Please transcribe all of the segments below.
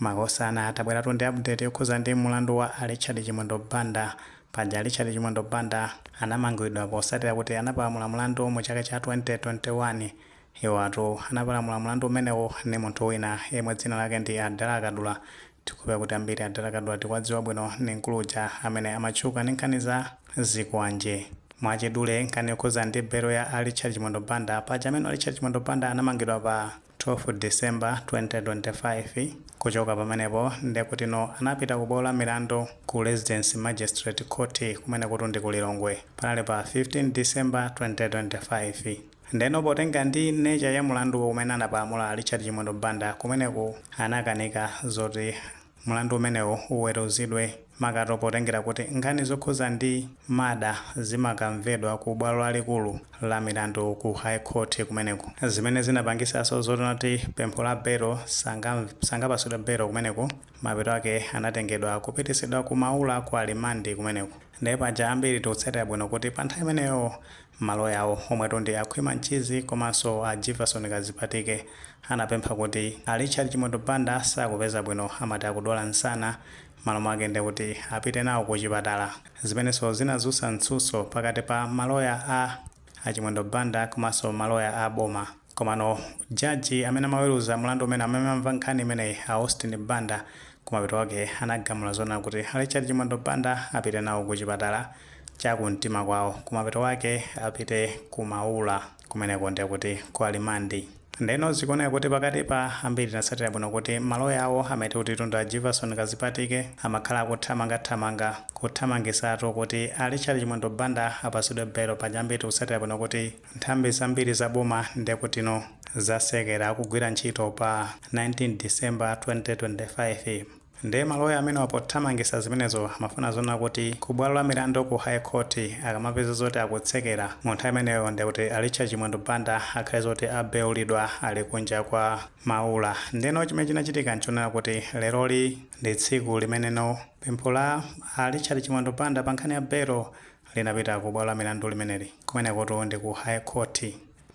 Makosana tabweratu ndi update yokhuza ndi mulandu wa a Richard Chimwendo Banda. Paja a Richard Chimwendo Banda anamangwidwa posatira kuti anapalamula mulandu mu chaka cha 2021. Iwatu anapalamula mulandu umenewu ndi munthu wina yemwe dzina lake ndi a Dala Kadula. Tikhulupirira kuti ambiri a Dala Kadula tikuwadziwa bwino ndi mkulu uja amene amatchuka ndi nkhani za zikwanje. Mwachidule nkhani yokhuza ndi belo ya a Richard Chimwendo Banda. Paja amenewa a Richard Chimwendo Banda anamangidwa pa. 12 December 2025 kuchoka pamenepo ndekutino anapita ku bwalo la milandu ku Residence Magistrate Court kumenekutu ndi ku Lilongwe panali pa 15 December 2025 ndeno potengera ndi nature ya mulanduwo umene anapalamula a Richard Chimwendo Banda kumeneku anakanika zoti Mlandu umenewu uweruzidwe makamaka potengera kuti nkhani zokhuza ndi murder zimakamvedwa ku bwalo lalikulu la milandu ku High Court kumeneko zimene zinapangisaso zonena kuti pempho la belo sangapasidwe belo kumeneko mapeto ake anatengedwa kupitisidwa ku Maula ku remand kumeneko. Nde paja ambiri tikutsatira bwino kuti pa nthawi imeneyo ma lawyer awo omwetu ndi a Khwima Mchizi komanso a Jivason Kazipatike anapempha kuti a Richard Chimwendo Banda sakupeza bwino amati akudwala msana malo mwake ndekuti apite nawo ku chipatala zimenenso zinadzutsa mtsutso pakati pa ma lawyer a a Chimwendo Banda komanso ma lawyer a boma. Komano judge amene amaweruza mlandu umene amene amva nkhani imeneyi a Austin Banda kumapeto kwake anagamula zonena kuti a Richard Chimwendo Banda apite nawo ku chipatala cha ku mtima kwawo kumapeto kwake apite ku Maula kumeneko ndiye kuti ku remand. Ndeno zikuoneka kuti pakatipa ambiri tinatsatira bwino kuti maloya awo amati kuti tunda a Jivason Kazipatike amakhala akuthamanga thamanga kuthamangisatu kuti a Richard Chimwendo Banda apatsidwe belo paja ambiri tikutsatira bwino kuti Nthambi zambiri za boma ndekutino zasekera kugwira ntchito pa 19 December 2025 nde maloya amenewa pothamangisa zimenezo amafuna zonena kuti ku bwalo la milandu ku High Court akamapeza zoti akutsekera mu nthawi imeneyo ndekuti a Richard Chimwendo Banda akhale zoti abeulidwa ali kunja kwa Maula ndeno chimene chinachitika nchonena kuti leroli ndi tsiku limeneno pempho la a Richard Chimwendo Banda pa nkhani ya belo linapita ku bwalo la milandu limeneli. Kumenekutu ndi ku High Court.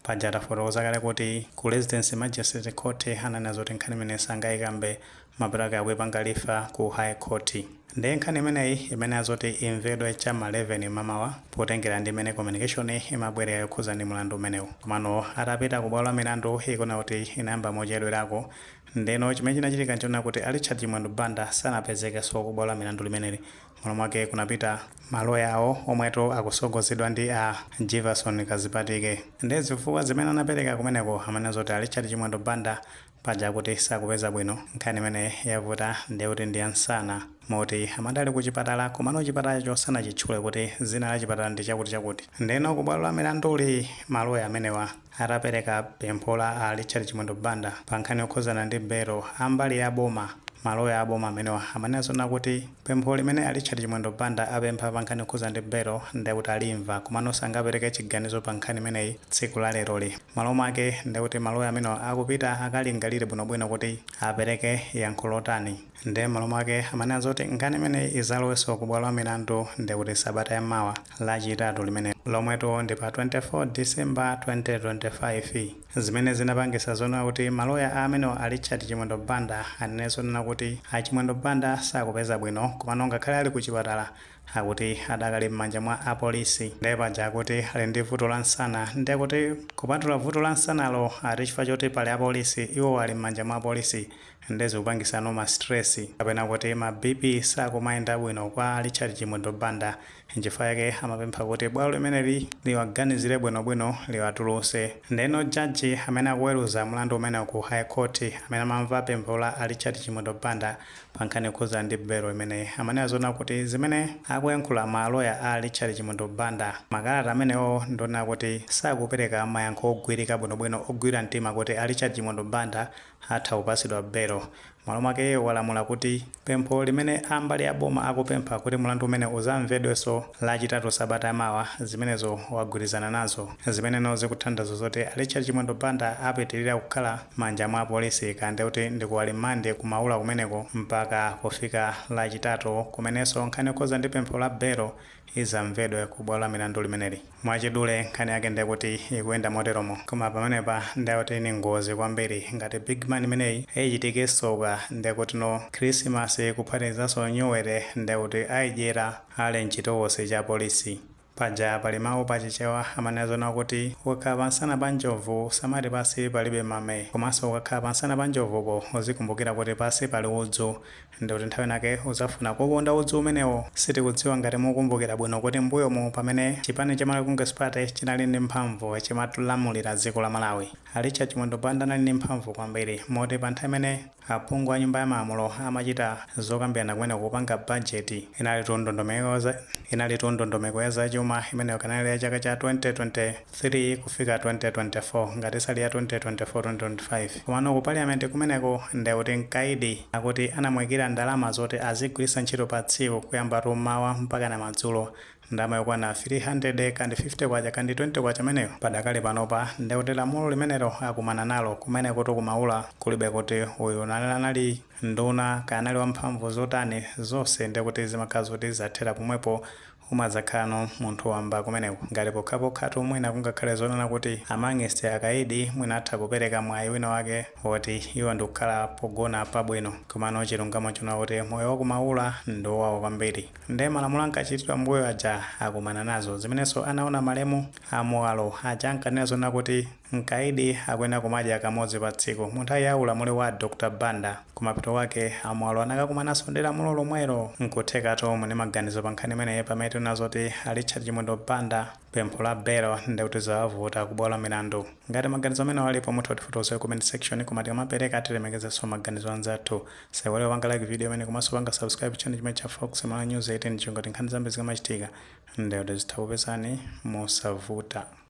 Paja tafotokoza kale kuti ku Residence Magistrate Court ananena zoti nkhani imeneyi sangaikambe mapeto ake akuipanga refer ku High Court. Ndiye nkhani imeneyi imayenera zoti imvedwe cha m'ma 11 m'mamawa potengera ndi mmene communication imabwerera yokhudza ndi mlandu umenewu. Komano atapita ku bwalo la milandu ikuoneka kuti inayamba mochedwerako. Ndiyeno chimene chinachitika n'chonena kuti a Richard Chimwendo Banda sanapezekenso ku bwalo la milandu limeneli Mmalo mwake kunapita ma loya awo omwetu akutsogozedwa ndi a Jefferson Kazipatike. Ndiye zifukwa zimene anapereka kumeneko amanena zoti a Richard Chimwendo Banda paja akuti sakupeza bwino, nkhani imene yavuta ndiye kuti ndi ya nsana moti amati ali ku chipatala komano chipatalacho sanachitchule kuti dzina la chipatala ndi chakuti chakuti. Ndeno ku bwalo la milanduli ma loya amenewa. Atapereka pempho la a Richard Chimwendo Banda pa nkhani yokhuzana ndi belo, a mbali ya boma, ma loya a boma amenewa amanena zoona kuti pempho limene a Richard Chimwendo Banda apempha pa nkhani yokhuzana ndi belo nde kuti alimva komano sangapereke chiganizo pa nkhani imeneyi tsiku la leroli. Malo mwake nde kuti ma loya amenewa akupita akalingalire bwinobwino kuti apereke yankho lotani. nde m'malo mwake amanena zoti nkhani imeneyi izalowenso ku bwalo la milandu nde kuti sabata ya mawa lachitatu limenelo lomwetu ndi pa 24 December 2025 zimene zinapangisa zoona kuti maloya amenewa a Richard Chimwendo Banda anene zonena kuti a Chimwendo Banda sakupeza bwino komano ngakhale ali ku chipatala akuti adakali m'manja mwa a polisi nde paja akuti ali ndi vuto la nsana nde kuti kupatula vuto la nsanalo ati chifukwa choti pali a polisi iwo ali m'manja mwa apolisi nde zikupangisano ma stress kapena kuti ma BP sakumayenda bwino kwa Richard Chimwendo Banda nchifukwa yake amapempha kuti bwalo limeneli liwaganizire bwino bwino liwatuluse ndeno judge amene akuweruza mlandu umenewu ku high court amene amamva pempho la a Richard Chimwendo Banda pa nkhani yokhudzana ndi belo imeneyi amanena zoona kuti zimene akuyankhula ma loya a Richard Chimwendo Banda makalata amenewo ndionena kuti sakupereka mayankho ogwirika bwino bwino ogwira mtima kuti a Richard Chimwendo Banda atha kupatsidwa belo. Malo mwake walamula kuti pempho limene a mbali ya boma akupempha kuti mlandu umenewu uzamvedwenso Lachitatu sabata ya mawa, zimenezo wagwirizana nazo. Zimeneno zikutanthauza zoti a Richard Chimwendo Banda apitilira kukhala manja mwa apolisi kaya ndiye kuti ndi ku alimandi ku Maula kumeneko mpaka kufika Lachitatu kumenenso nkhani yokhudza ndi pempho la belo izamvedwe ku bwalo la milandu limeneli. Mwachidule nkhani yake ndiye kuti ikuyenda moteromo koma pamenepa ndiye kuti ni ngozi kwambiri ngati big man imeneyi ichitike tsoka ndiye kuti no khrisimasi kuphatikizanso nyuwere ndiye kuti aidyera ali mchitokosi cha apolisi. Paja pali mawu pa Chichewa amanena zoona kuti ukakhala pamsana pa njovu usamati pansi palibe mame komanso ukakhala pamsana pa njovupo uzikumbukira kuti pansi pali udzu Ndikuti nthawi inayake uzafuna kuuponda udzu umenewo. Sitikudziwa ngati mukukumbukira bwino kuti m'mbuyomu pamene chipani cha Malawi Congress Party chinali ndi mphamvu chimatilamulira dziko la Malawi. A Richard Chimwendo Banda anali ndi mphamvu kwambiri moti pa nthawi imene aphungu a nyumba ya malamulo amachita zokambirana kumeneko kupanga bajeti, inalitu ndondomeko ya zachuma imeneyo kanali ya chaka cha 2020. 3-2024 ngati si ili ya 2024 2025 komano ku parliament kumeneko ndekuti mkaidi akuti anamuikira ndalama zoti azigwiritsa ntchito pa tsiku kuyambatu mmawa mpakana madzulo ndalama yokwana 300 kandi 50 kwacha kandi 20 kwacha imeneyo padakali panopa ndekuti lamulo limenelo akumana nalo kumenekutu ku maula kulibe kuti uyu anali anali nduna kaya anali wamphamvu zotani zonse ndekuti zimakhala zoti zathera pomwepo Umadzakhalano munthu wamba kumeneko ngati pokhapokhatu mwina kungakhale zonena kuti amang'iste akaidi mwina atha kupereka mwayi wina wake woti iwo ndikukhala pogona pabwino komano chilungamo chonena kuti moyo wa ku maula ndi owawa kwambiri nde malamulo ankachitidwa mbuyo aja akumana nazo zimenenso anaona malemu a Muwalo aja ankanena zonena kuti Mkaidi akuyenera kumadya kamodzi pa tsiku. Mu nthawi ya ulamuliro wa a Dr Banda, kumapeto kwake a Muwalo anakakumananso ndi lamulo lomwelo. Nkuthekatu muli ndi maganizo pa nkhani imeneyi pamene tikunena zoti a Richard Chimwendo Banda pempho la belo ndiye kuti zawavuta ku bwalo la milandu. Ngati maganizo amenewo alipo mutha kutifotokozera ku comment section koma tikamapereka tilemekezenso maganizo a anzathu. Musaiwale kupanga like video imeneyi komanso kupanga subscribe channel chimenechi cha Fox Malawi News 18 chingoti nkhani zambiri zikamachitika ndiye kuti zitha kupezani mosavuta.